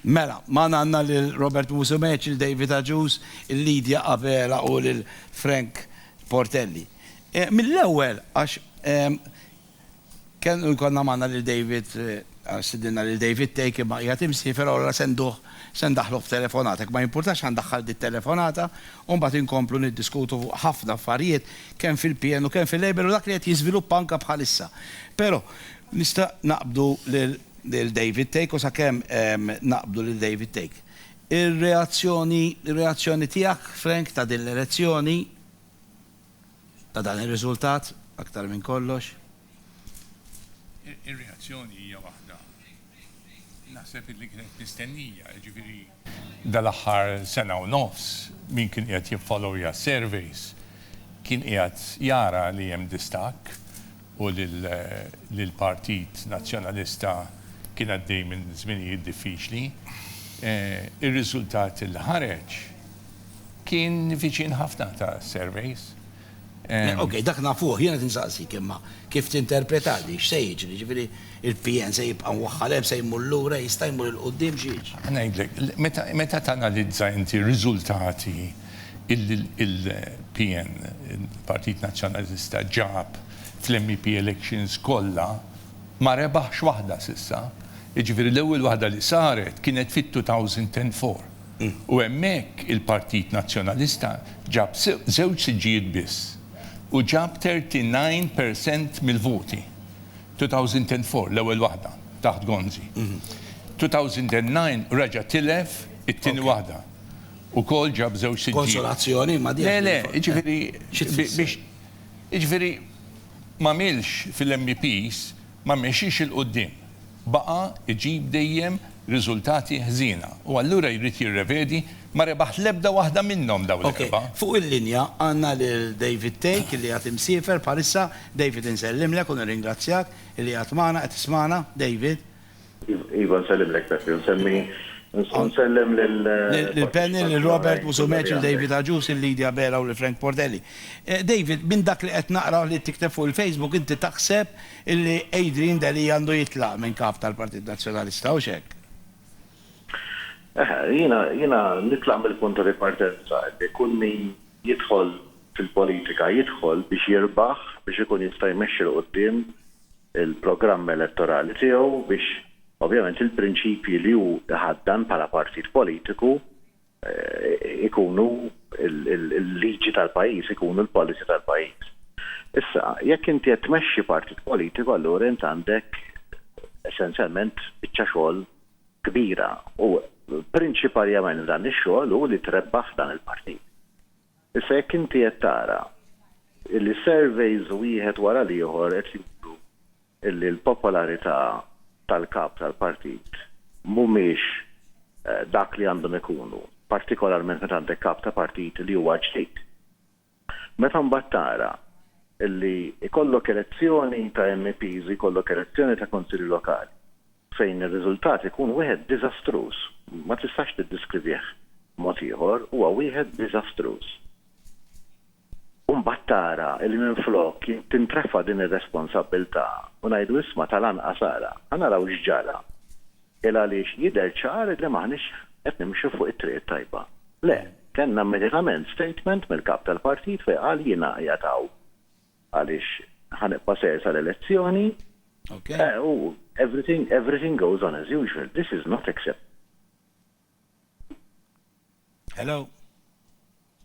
Mela, magħna għandna lil Robert Musumeci, lil David Agius, lil Lydia Abela u lil Frank Portelli. Eh, mill-ewwel għax ehm, kien konna magħna lil David eh, sidinna lil David Take imma qiegħed imsiefer allura senduh sendaħlu b'telefonatek ma jimpurtax għandaħħal dit telefonata u mbagħad inkomplu niddiskutu fuq ħafna affarijiet kemm fil-PN u kemm fil-Label u dak li qed jiżviluppa anke bħalissa. Però Nista' naqbdu lil David Thake u sakemm naqbdu lil David Thake. Ir-reazzjoni, ir-reazzjoni tiegħek, Frank, ta' din l-elezzjoni, ta' dan ir-riżultat, aktar minn kollox? Ir-reazzjoni hija waħda, naħseb, li kienet mistennija, jiġifieri, Dal-aħħar sena u nofs, min kien qiegħed jiffollowja s-surveys kien qiegħed jara li hemm distakk u li l-Partit Nazzjonalista kien għaddej minn żminijiet diffiċli. Ir-riżultat li ħareġ kien viċin ħafna tas-surveys. Okej, dak nafuh, jien qed insaqsik imma kif tinterpretah din, x'se jiġri? Jiġifieri il-PN se jibqa' mwaħħal hemm, se jmur lura, jista' jmur 'il quddiem, xi jiġri? Ngħidlek, meta tanalizza inti r-riżultati li l-PN, il-Partit Nazzjonalista, ġab fl-MEP elections kollha, ma rebaħx waħda s'issa. Jiġifieri l-ewwel waħda li saret kienet fit-2004. u hemmhekk il-Partit Nazzjonalista ġab żewġ siġġijiet biss u ġab 39 per cent mill-voti. 2004 l-ewwel waħda taħt Gonzi. 2009 reġa' tilef it-tieni waħda. Ukoll ġab żewġ siġġijiet. Konsolazzjoni imma din. Le le, jiġifieri biex jiġifieri m'għamilx fil-MEPs, Ma mexiex 'il quddiem. Baqa' jġib dejjem riżultati ħżiena u allura jrid jirrevedi, ma rebaħ l-ebda waħda minnhom dawn l-erba'. Ok, fuq il-linja għandna lil David Thake li għad imsiefer bħalissa. David insellimlek u nirringrazzjak li għad magħna, qed tismagħna? David? Iva, nsellimlek Peppi, u nsemmi u nsellem lil. Lil Penny, lil Robert Musumeci, lil David Agius, lil Lydia Bera u lil Frank Portelli. David, minn dak li qed naqra u li qed tikteb fuq il-Facebook inti taħseb illi Adrian Delia għandu jitlaq minn Kap tal-Partit Nazzjonalista, hux hekk? Eħe, jiena jiena nitlaq mill-punt ta' ripartenza illi kull min jidħol fil-politika jidħol biex jirbaħ, biex ikun jista' jmexxi 'l quddiem il-programm elettorali tiegħu biex ovvjament il-prinċipji li hu jħaddan bħala partit politiku ikunu l-liġi tal-pajjiż, ikunu l-policy tal-pajjiż. Issa, jekk inti qed tmexxi partit politiku allura int għandek essenzjalment biċċa xogħol kbira u prinċiparjament f'dan ix-xogħol hu li trebbaħ dan il-partit. Issa jekk inti qed tara li surveys wieħed wara l-ieħor qed juru li l-popolarità tal-Kap tal-Partit mhumiex dak li għandhom ikunu, partikolarment meta għandek Kap ta' Partit li huwa ġdid. Meta mbagħad tara li jkollok elezzjoni ta' MEPs u jkollok elezzjoni ta' Kunsilli Lokali fejn ir-riżultat ikun wieħed diżastruż, ma tistax tiddiskrivih b'mod ieħor, huwa wieħed diżastruż. U mbagħad tara li minflok tintrefa' din ir-responsabbiltà u ngħidu isma' tal-anqas ara, ħa naraw x'ġara, il-għaliex jidher ċar li m'aħniex qed nimxu fuq it-triq it-tajba. Le, kellna immedjatament statement mill-Kap tal-Partit fejn qal jiena qiegħed hawn għaliex ħa nibqa' sejr sal-elezzjoni u everything, everything goes on as usual. This is not acceptable. Hello?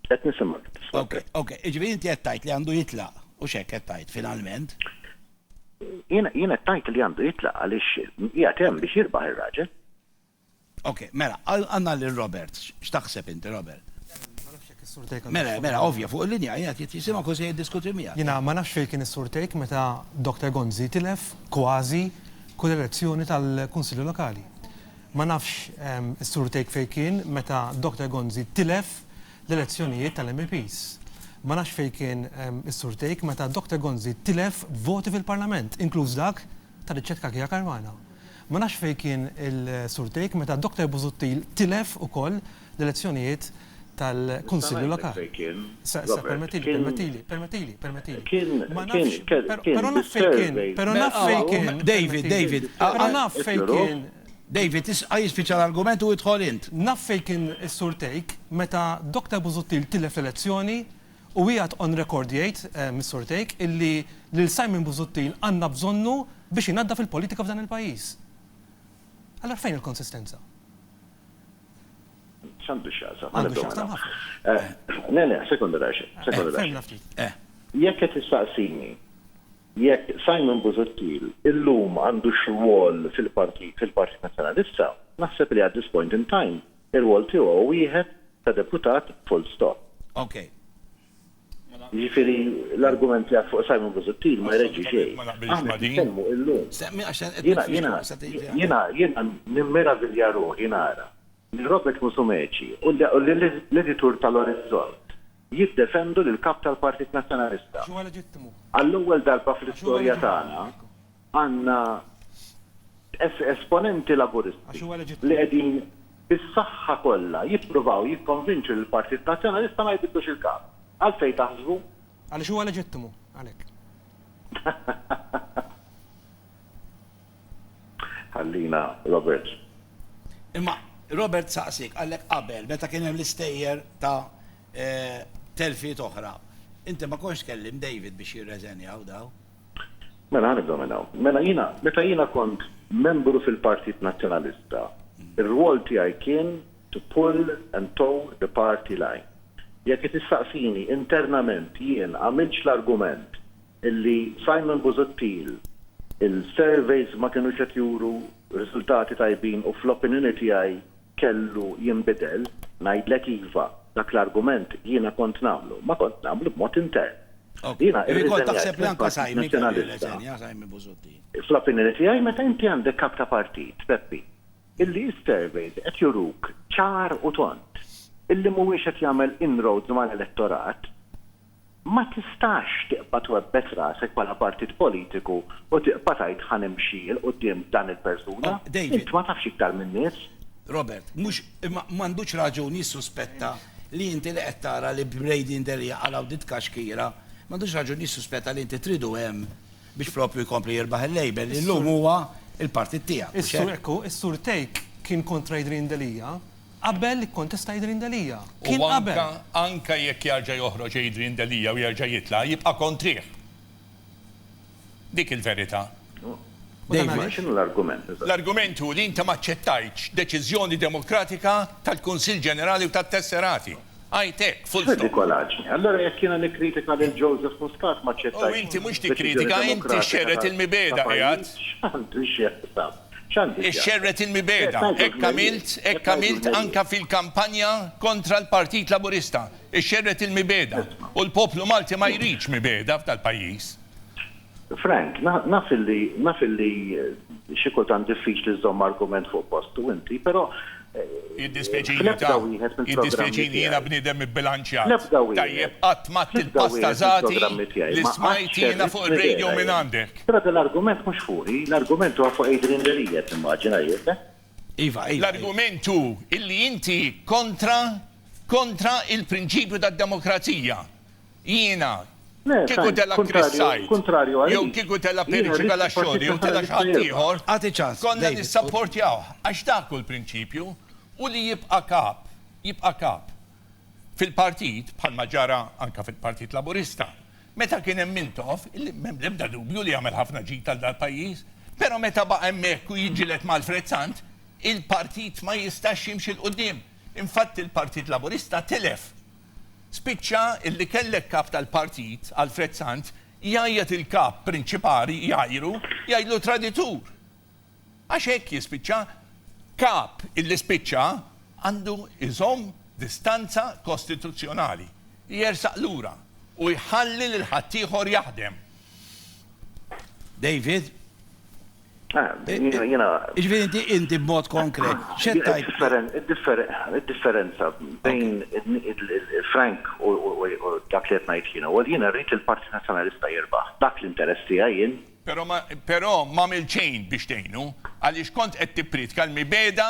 Qed nisimgħek. Ok, ok. Iġifieri inti qed tgħid li għandu jitlaq u x'hekk qed tgħid finalment. Jien qed tgħid li għandu jitlaq għaliex qiegħed hemm biex jirbaħ ir-raġel. Ok, mela, għandna lil Robert. X'taħseb inti, Robert? Ma nafx jekk is-Sur Tejk. Mela, mela, ovvja, fuq il-linja qiegħed qed jisimgħek u se jiddiskuti miegħek. Jiena ma nafx fejn kien is-Sur Tejk meta Dr. Gonzi tilef kważi kull elezzjoni tal-Kunsilli Lokali. Ma nafx is-Sur Tejk fejn kien meta Dr. Gonzi tilef l-elezzjonijiet tal-MEPs. Ma nafx fejn kien is-Sur Tejk meta Dr. Gonzi tilef voti fil-Parlament, inkluż dak tar-riċċetkakija Karwana. Ma nafx fejn kien il-Sur Tejk meta d-Doktor Busuttil tilef ukoll l-elezzjonijiet tal-Kunsilli Lokali. Nista' ngħidlek fejn kien. Permettili, permettili, permettili. Però naf fejn kien. Però naf fejn kien. David, David. Però naf fejn kien. David, isqa' jispiċċa l-argument u idħol int. Naf fejn kien is-Sur Tejk meta d-Doktor Busuttil tilef l-elezzjoni U qiegħed on record jgħid, Mr. Tejk, illi lil Simon Busuttil għandna bżonnu biex inaddaf il-politika f'dan il-pajjiż. Allura fejn il-konsistenza? X'għandu x'jaqsam? Għandu x'jaqsam ħafna. Le, le, sekonda daqsxejn, sekonda daqsxejn. Fehimna ftit. Jekk qed tistaqsini jekk Simon Busuttil illum għandu x'rwol fil-Partit Nazzjonalista, naħseb li at this point in time Ir-rwol tiegħu hu wieħed ta' deputat full stop. Ok. Jiġifieri l-argument tiegħek fuq Simon Busuttil ma jreġġi xejn. Aħna qed nitkellmu illum. Jiena jiena nimmeravilja ruħi nara lil Robert Musumeci u lill-editur ta' l-Orizzont jiddefendu lill-Kap tal-Partit Nazzjonalista. Għall-ewwel darba fl-istorja tagħna għandna esponenti Laburisti li qegħdin bis-saħħa kollha jippruvaw jikkonvinċu lill-Partit Nazzjonalista ma jbiddlux il-Kap. Għalfejn taħsbu? Għaliex huwa leġittimu, għalhekk. Ħallina Robert. Imma Robert saqsiek, qalek qabel meta kien hemm l-istejjer ta' telfiet oħra, inti ma kontx tkellimt David biex jirreżenjaw dawn? Mela ħa nibdew minn hawn. Mela jiena, meta jiena kont membru fil-Partit Nazzjonalista, ir-rwol tiegħi kien to pull and toe the party line. Jekk qed issaqsini internament jien għamiltx l-argument illi Simon Busuttil il-surveys ma kinux qed juru riżultati tajbin u fl-opinjoni tiegħi kellu jinbidel, ngħidlek iva, dak l-argument jiena kont nagħmlu, ma kont nagħmlu b'mod intern. Jiena irriżenjajt mill-Partit Nazzjonalista. Fl-opinjoni tiegħi meta inti għandek Kap ta' Partit, Peppi, illi s-surveys qed juruk ċar u tond illi mhuwiex qed jagħmel inroads mal-elettorat, Ma tistax tiqba' twebbes rasek bħala partit politiku u tiqba' tgħid ħa nimxi 'l quddiem b'dan il-persuna. Int ma tafx iktar min-nies. Robert, Mhux, imma m'għandux raġun jissuspetta li inti li qed tara li Brady and Delia qalgħu din tkaxkira, m'għandux raġun jissuspetta li inti tridu hemm biex proprju jkompli jirbaħ il-Labour li llum huwa l-partit tiegħek, mhux hekk? Ekku, is-Sur Tejk kien kontra Adrian Delia Qabel ikkontesta Adrian Delia. Kien qabel. U anke, anke jekk jarġa' joħroġ Adrian Delia u jerġa' jitla', jibqa' kontrih. Dik il-verità. U dan għaliex? X'inhu l-argument eżatt? L-argument hu li inti m'aċċettajtx deċiżjoni demokratika tal-Kunsill Ġenerali u tat-Tesserati. Għid hekk, full stop. Freddy Colaci, allura jekk jiena nikkritika lil Joseph Muscat m'aċċettajtx deċiżjoni demokratika ta' pajjiż, x'għandu x'jaqsam? Ixxerred il-mibegħda. Hekk għamilt, hekk għamilt anke fil-kampanja kontra l-Partit Laburista. Ixxerred il-mibegħda. U l-poplu Malti ma jridx mibegħda f'dal-pajjiż. Frank, naf illi, naf illi xi kultant diffiċli żżomm argument fuq postu inti, però Jiddispjaċini ta. Jiddispjaċini jiena bniedem ibbilanċjat. Tajjeb qatt m'għadt il-pasta Zati li smajt jiena fuq ir-radio minn għandek. Però dal-argument mhux fuqi, l-argument huwa fuq Adrian Delia timmaġina jien. Iva, iva. L-argument hu illi inti kontra, kontra il-prinċipju tad-demokrazija. Jiena, kieku tela' Chris Said, jew kieku tela' Pierluigi Galascioni, jew tela' xi ħadd ieħor, konna nissapportjawh, għax dak hu l-prinċipju, u li jibqa' kap, jibqa' kap. Fil-partit, bħalma ġara anke fil-Partit Laburista, meta kien hemm Mintoff, illi m'hemm l-ebda dubju li għamel ħafna ġid għal dal-pajjiż, però meta baqa' hemmhekk u jiġġieled ma' Alfred Sant, il-partit ma jistax jimxi 'l quddiem. Infatti l-Partit Laburista tilef Spiċċa illi kellek Kap tal-Partit, Alfred Sant, jgħajjat il-Kap prinċipali jgħajru, jgħidlu traditur. Għax hekk jispiċċa. Kap illi spiċċa għandu jżomm distanza kostituzzjonali, jersaq lura u jħalli lil ħaddieħor jaħdem. David, Jiġifieri inti, inti b'mod konkret, x'qed tgħid? Id-differenza bejn Frank u dak li qed ngħid jien huwa li jiena rrid li l-Partit Nazzjonalista jirbaħ. Dak l-interess tiegħi jien. Però ma, però m'għamilt xejn biex tgħinu, għaliex kont qed tippriedka l-mibegħda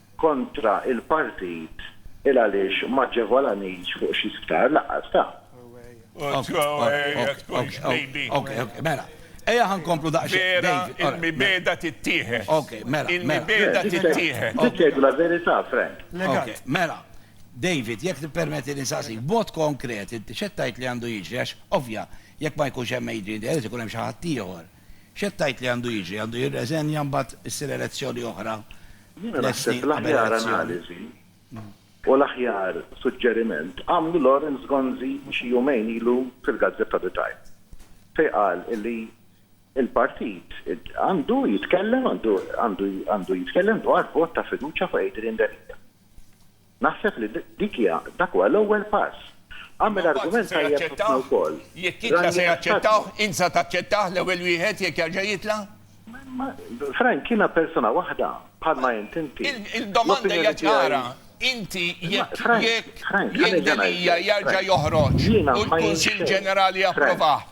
kontra il-partit il għaliex m'aġġevolanix fuq xi sptar laqqas ta. Ok, ok, ok, ok, ok, mela. Ejja ħa nkomplu daqsxejn. Vera, il-mibegħda tittieħed. Ok, mela. Il-mibegħda tittieħed. Dik tgħidlu l-verità, Frank. Ok, mela. David, jekk tippermetti li nsaqsik, b'mod konkret, inti x'qed tgħid li għandu jiġri għax, ovvja, jekk ma jkunx hemm Adrian Delia se jkun hemm xi ħaddieħor. X'qed tgħid li għandu jiġri? Għandu jirreżenja mbagħad issir elezzjoni oħra Jiena naħseb l-aħjaranalysis u l-aħjar suġġeriment għamlu Lawrence Gonzi xi jumejn ilu fil-gazzetta The Time fejn qal illi l-partit għandu jitkellem għandu għandu jitkellem dwar vot ta' fiduċja fuq Adrian Delia. Naħseb li dik hija, dak huwa l-ewwel pass. Għamel argument tajjeb ħafna wkoll. Jekk jitla' se jaċċettawh? Int sa taċċettah l-ewwel wieħed jekk jerġa' jitla'? Ma, Frank, jiena persuna waħda, bħalma int inti. Il-domanda hija ċara. Inti jekk, jekk, jekk Delia jerġa' joħroġ u l-Kunsill Ġenerali japprovah,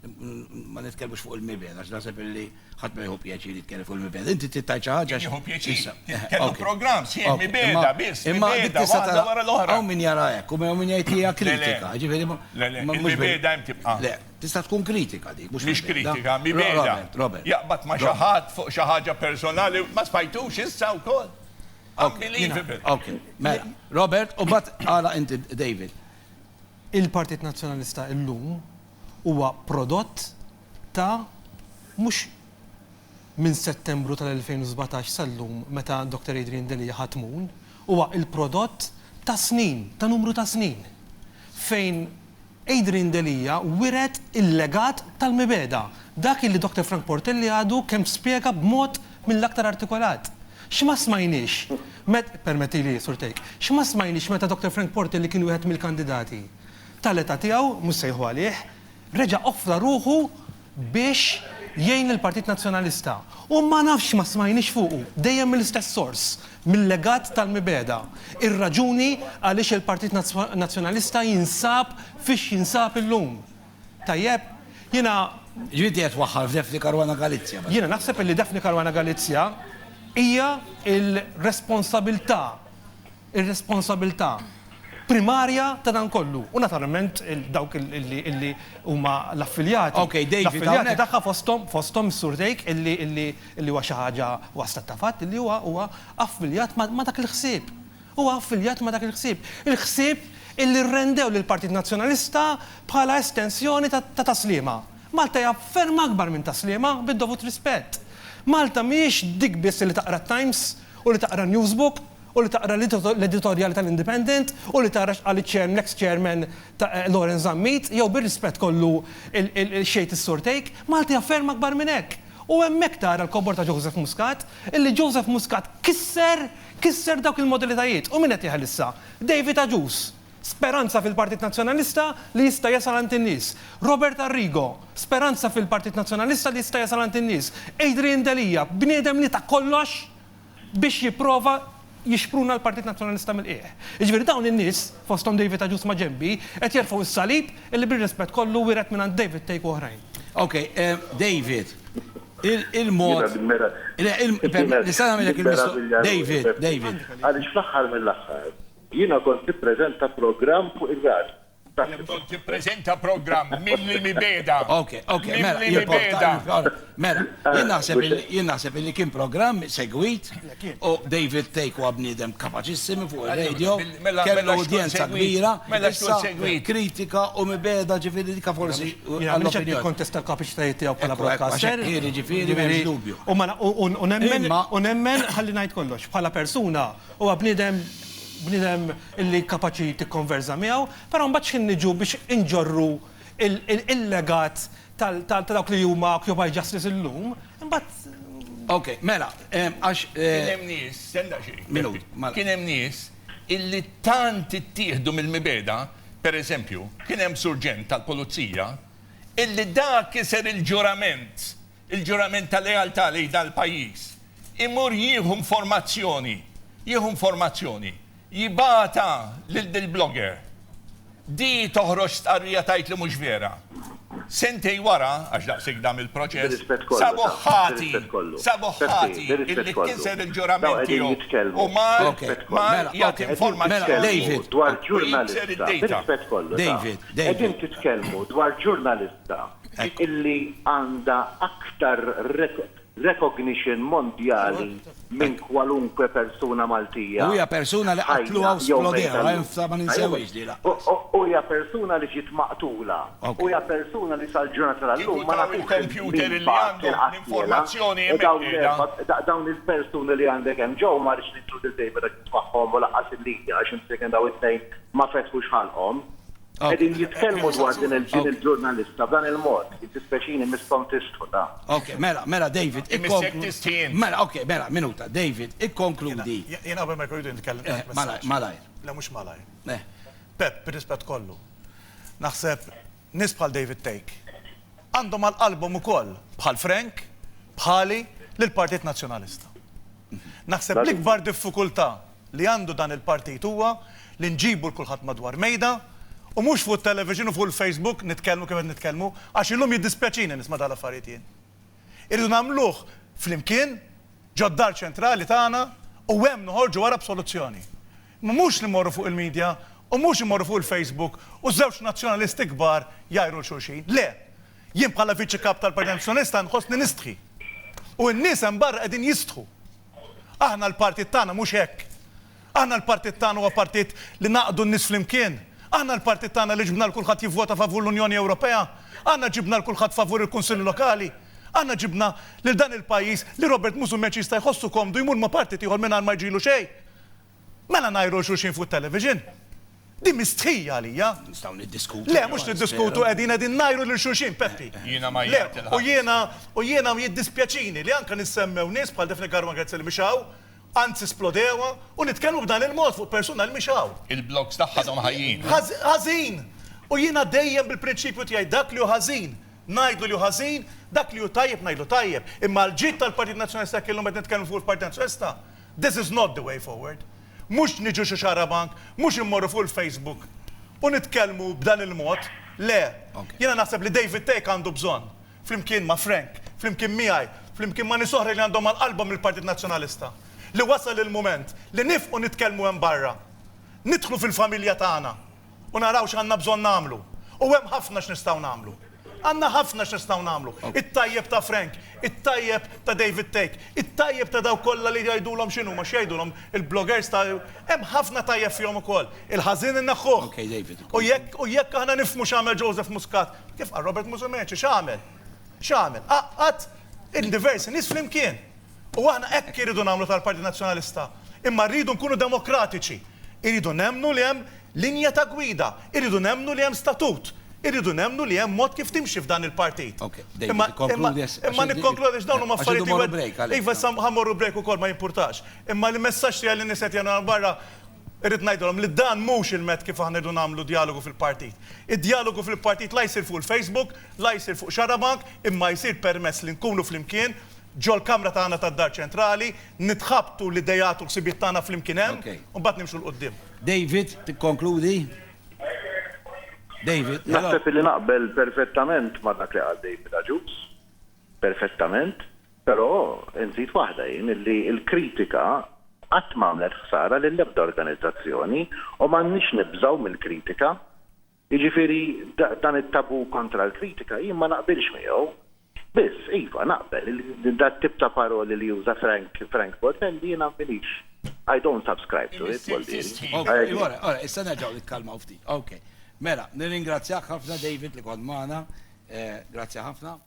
Ma nitkellmux fuq il-miben, għax naħseb illi ħadd ma jħu pjaċir jitkellem fuq il-miben. Inti tittaj xi ħaġa xi. Jħu pjaċir. Kellu programm sħiħ mibeda biss. Imma dik tista' tara wara l-oħra. Hawn min jara hekk u hawn min jgħid hija kritika. Ġifieri ma. Le, le, mibeda hemm tibqa'. Le, tista' tkun kritika dik, mhux mhux kritika, mibeda. Robert. Jaqbad ma' xi ħadd fuq xi ħaġa personali, ma spajtux issa wkoll. Unbelievable. Ok, mela. Robert, u bat għala inti David. Il-Partit Nazzjonalista illum huwa prodott ta' mhux minn Settembru tal-2017 sal-lum meta Doctor Adrian Delia ħa tmun, huwa l-prodott ta' snin, ta' numru ta' snin fejn Adrian Delia wiret il-legat tal-mibegħda, dak li Doctor Frank Portelli għadu kemm spjega b'mod mill-aktar artikolat. X'ma smajniex, permettili Sur Tejk, x'ma smajniex meta Doctor Frank Portelli kien wieħed mill-kandidati? tal-età tiegħu, mhux sejħu għalih, reġa' offra ruħu biex jgħin lill-Partit Nazzjonalista. U ma nafx ma smajniex fuqu, dejjem mill-istess sors, mil-legat tal-mibegħda, ir-raġuni għaliex il-Partit Nazzjonalista jinsab fiex jinsab illum. Tajjeb? Jiena. Ġifieri inti qed twaħħal f'Daphne Caruana Galizia? Jiena naħseb li Daphne Caruana Galizia hija l-responsabilità ir-responsabilità primarja ta' dan kollu u naturalment dawk li huma l-affiljati, l-affiljati tagħha fosthom fosthom is-Sur Tejk illi illi illi huwa xi ħaġa huwa stat ta' fatt illi huwa huwa affiljat ma' ma' dak il-ħsieb. Huwa affiljat ma' dak il-ħsieb. Il-ħsieb illi rrendew lill-Partit Nazzjonalista bħala estensjoni ta' ta' ta' Sliema. Malta hija ferm akbar minn ta' Sliema, bid-dovut rispett. Malta mhijiex dik biss li taqra t-Times u li taqra n-Newsbook u li taqra l-editorjali tal-Independent u li tara x'qal l-eks chairman Lawrence Zammit jew bir-rispett kollu xejt is-Sur Tejk, Malta hija ferm akbar minn hekk. U hemmhekk tara l-kobor ta' Joseph Muscat illi Joseph Muscat kisser kisser dawk il-modalitajiet u min qed jeħel issa? David Agius! Speranza fil-Partit Nazzjonalista li jista' jasal għand in-nies. Robert Arrigo! Speranza fil-Partit Nazzjonalista li jista' jasal għand in-nies. Adrian Delia! Bniedem li ta kollox biex jipprova jixpruna l-Partit Nazzjonalista mill-qiegħ. Jiġifieri dawn in-nies, fosthom David Agius maġenbi, qed jerfgħu s-salib illi bir-rispett kollu wiret mingħand David Thake u oħrajn. Ok, David, il-mod, nista' nagħmilek il-mistoqsija, David, David. Għaliex fl-aħħar mill-aħħar jiena kont nippreżenta programm fuq ir-radju. Bżonn tippreżenta programm mimli mibegħda. Ok, ok, mela, mela, jien naħseb jien naħseb li kien programm segwit u David Take huwa bniedem kapaċissimi fuq ir-radio, kellu udjenza kbira, mela x'kun segwit. Kritika u mibegħda ġifieri dika forsi. Għaliex qed tikkontesta l-kapaċitajiet tiegħu bħala broadcaster. Ġifieri m'hemmx dubju. U nemmen, ħalli ngħid kollox, bħala persuna huwa bniedem, bniedem. illi kapaċi tikkonverża miegħu, però mbagħad x'ħin niġu biex inġorru il-legat ta' dawk li huma occupy justice illum, imbagħad. Okej, mela, għax. Kien hemm nies, stenn daqsxejn. Minut, mela. Kien hemm nies illi tant ittieħdu mill-mibegħda, pereżempju, kien hemm surġent tal-pulizija illi dak kiser il-ġurament Il-ġurament ta' lealtà lejn dan il-pajjiż imur jieħu informazzjoni, jieħu informazzjoni, jibgħatha lil dil-blogger. Di toħroġ stqarrija tgħid li mhux vera. Sentejn wara, għax daqshekk dam il-proċess, sabuh ħati, sabuh ħati illi kiser il-ġurament tiegħu u mar, mar jagħti informazzjoni u jikser id-dejta. David, David, David. Qegħdin titkellmu dwar ġurnalista. illi għandha aktar recognition mondjali minn kwalunkwe persuna Maltija ħajja jew mejta llum. U hija persuna li ġiet maqtula. U hija persuna li sal-ġurnata tal-lum ma nafux min bagħat kien qattielha. U dawn l-erba', dawn il-persuni li għandek hemm ġewwa ma rridx ninkludu lil David għax ismagħhom u lanqas illija għax imsiekin dawn it-tnejn ma fetħux ħalqhom. Qegħdin jitkellmu dwar din il-ġurnalista b'dan il-mod. Jiddispeċini Miss Pont tistħu ta'. Ok, mela, mela David, ikkonkludi. Mela, ok, mela, minuta, David, ikkonkludi. Jiena qabel ma jkun jridu nitkellem ngħid messaġġ. Malajr, malajr. Le mhux malajr. Eh. Pepp, bir-rispett kollu, naħseb nies bħal David Thake għandhom għal qalbhom ukoll bħal Frank, bħali, lill-Partit Nazzjonalista. Naħseb l-ikbar diffikultà li għandu dan il-partit huwa li nġibu 'l kulħadd madwar mejda u mhux fuq it-television u fuq il-Facebook nitkellmu kif qed nitkellmu għax illum jiddispjaċini nisma' dawn l-affarijiet jien. Irridu nagħmluh flimkien ġod-Dar Ċentrali tagħna u hemm noħorġu wara b'soluzzjoni. Imma mhux li mmorru fuq il-media u mhux immorru fuq il-Facebook u żewġ nazzjonalisti kbar jgħajru 'l xulxin. Le! Jien bħala Viċi Kap tal-Partit Nazzjonalista nħossni nistħi. U n-nies hemm barra qegħdin jistħu. Aħna l-partit tagħna mhux hekk. Aħna l-partit tagħna huwa partit li ngħaqqdu n-nies flimkien. Aħna l-partit tagħna li ġbna 'l kulħadd jivvota favur l-Unjoni Ewropea. Aħna ġibna 'l kulħadd favur il-Kunsilli Lokali. Aħna ġibna lil dan il-pajjiż li Robert Musumeci jista' jħossu komdu jmur ma' partit ieħor mingħajr ma jġilu xejn. Mela ngħiru lil xulxin fuq it-television? Din mhi stħija għalija. Nistgħu niddiskutu. Le, mhux niddiskutu qegħdin qegħdin ngħiru lil xulxin, Peppi. Jiena ma jgħid il-ħadd. U jiena u jiena jiddispjaċini li anke nissemmew nies bħal Daphne Caruana Galizia li mhix hawn, anzi splodewha, u nitkellmu b'dan il-mod fuq persuna li mhix hawn. Il-blogs tagħha għadhom ħajjin. Ħażin! U jiena dejjem bil-prinċipju tiegħi dak li hu ħażin ngħidlu li hu ħażin, dak li hu tajjeb ngħidlu tajjeb. Imma l-ġid tal-Partit Nazzjonalista jekk illum qed nitkellmu fuq il-Partit Nazzjonalista, This is not the way forward. Mhux niġu xi xarabank, mhux immorru fuq il-Facebook u nitkellmu b'dan il-mod, le. Jiena naħseb li David Thake għandu bżonn, flimkien ma' Frank, flimkien miegħi, flimkien ma' nies oħra li għandhom għal qalbhom il-Partit Nazzjonalista, li wasal il-mument li nifqu nitkellmu hemm barra, nidħlu fil-familja tagħna u naraw x'għandna bżonn nagħmlu. U hemm ħafna x'nistgħu nagħmlu. Għandna ħafna x'nistgħu nagħmlu. It-tajjeb ta' Frank, it-tajjeb ta' David Thake, it-tajjeb ta' dawk kollha li jgħidulhom x'inhuma, x'jgħidulhom il-bloggers ta' hemm ħafna tajjeb fihom ukoll. Il-ħażin inneħħuh. U jekk u jekk aħna nifhmu x'għamel Joseph Muscat, kif qal Robert Musumeci, x'għamel? X'għamel? Għaqqad diversi nies flimkien. U aħna hekk irridu nagħmlu tal-Partit Nazzjonalista. Imma rridu nkunu demokratiċi. Irridu nemmnu li hemm linja ta' gwida. Irridu nemmnu li hemm statut. Irridu nemmnu li hemm mod kif timxi f'dan il-partit. Imma, imma, imma nikkonkludi għax dawn huma affarijiet li. Iva, issa ħa mmorru break ukoll, ma jimpurtax. Imma l-messaġġ tiegħi lin-nies li qed jagħmlu hawn barra, Irrid ngħidilhom li dan mhux il-med kif aħna rridu nagħmlu djalogu fil-partit. Id-djalogu fil-partit la jsir fuq il-Facebook, la jsir fuq xarabank, imma jsir permezz li nkunu flimkien ġol-kamra tagħna tad-Dar Ċentrali, nitħabtu l-ideat u l-ħsibiet tagħna flimkien hemm, u mbagħad nimxu 'l quddiem. David, tikkonkludi? David, hello? Naħseb illi naqbel perfettament ma' dak li qal David Agius. Perfettament, però nżid waħda jien illi l-kritika qatt m'għamlet ħsara lil ebda organizzazzjoni u m'għandniex nibżgħu mill-kritika. Jiġifieri dan it-tabù kontra l-kritika jien ma naqbilx miegħu. Biss, iva, naqbel li dat-tip ta' paroli li juża Frank, Frank Boldmelli jiena m'iniex, I don't subscribe to it, Boldieri. Okej, ora, ora, issa nerġgħu nikkalmaw ftit. Okej. Mela, nirringrazzjak ħafna David li kont magħna. Grazzi ħafna.